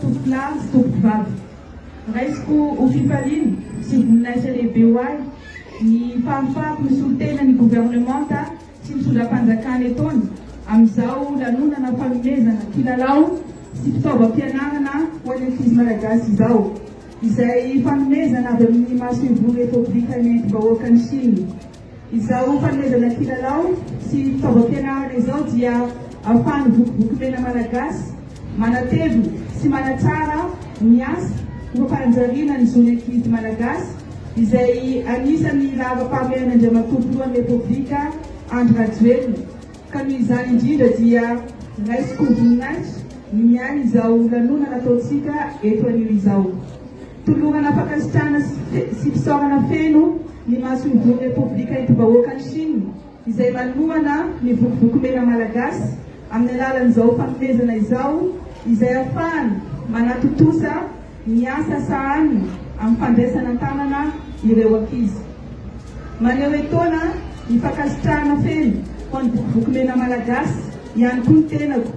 Tovolahy sy Tompom-bavy. Raisiko ho fifaliana sy voninahitra lehibe ho ahy ny fahafahako misolo tena ny Governemanta sy ny Solà-panjakana etoana amin'izao lanonana fanomezana kilalao sy fitaovam-pianarana ho an'ny ankizy Malagasy izao, izay fanomezana avy amin'ny Masoivoho Repoblika nentim-bahoakan'i Chine. Izao fanomezana kilalao sy fitaovam-pianarana izao dia ahafahan'ny Vokovoko Mena Malagasy manatevina sy manatsara ny asa ho fampanajariana ny zon'ny ankizy Malagasy izay anisan'ny laharam-pahamehan'Andriamatoa Filohan'ny Repoblika Andry Rajoelina Ka noho izany indrindra dia raisiko voninahitra ny miahy izao lanonana ataontsika eto anio izao. Tolorana fankasitrahana sy fisaorana feno ny Masoivohon'ny Repoblika Enti-bahoakan'i Chine izay manohana ny vokovoko mena malagasy amin'ny alalan'izao fanomezana izao izay afahany manatontosa ny asa sahaniny amin'ny fandraisana an-tanana ireo ankizy. Maneho etoana ny fankasitrahana feno ho an'ny Vokovoko Mena Malagasy ihany koa ny tenako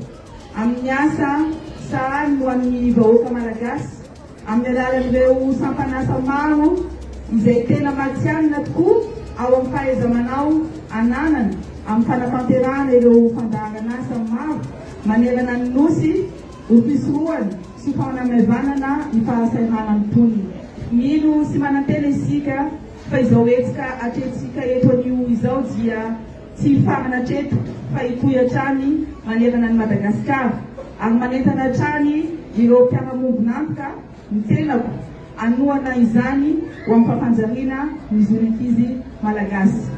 amin'ny asa sahaniny ho an'ny vahoaka Malagasy amin'ny alalan'ireo sampan'asa maro izay tena matihanina tokoa ao amin'ny fahaiza-manao ananany amin'ny fanatanterahana ireo fandaharan'asa maro manerana ny Nosy Ho fisorohana sy fanamaivanana ny fahasahiranan'ny mponina. Mino sy manantena isika fa izao hetsika atrehintsika eto anio izao dia tsy hifarana hatreto fa hitohy hatrany manerana an'i Madagasikara ary manentana hatrany ireo mpiara-miombon'antoka ny tenako hanohana izany ho amin'ny fapanjariana ny zon'ny ankizy Malagasy.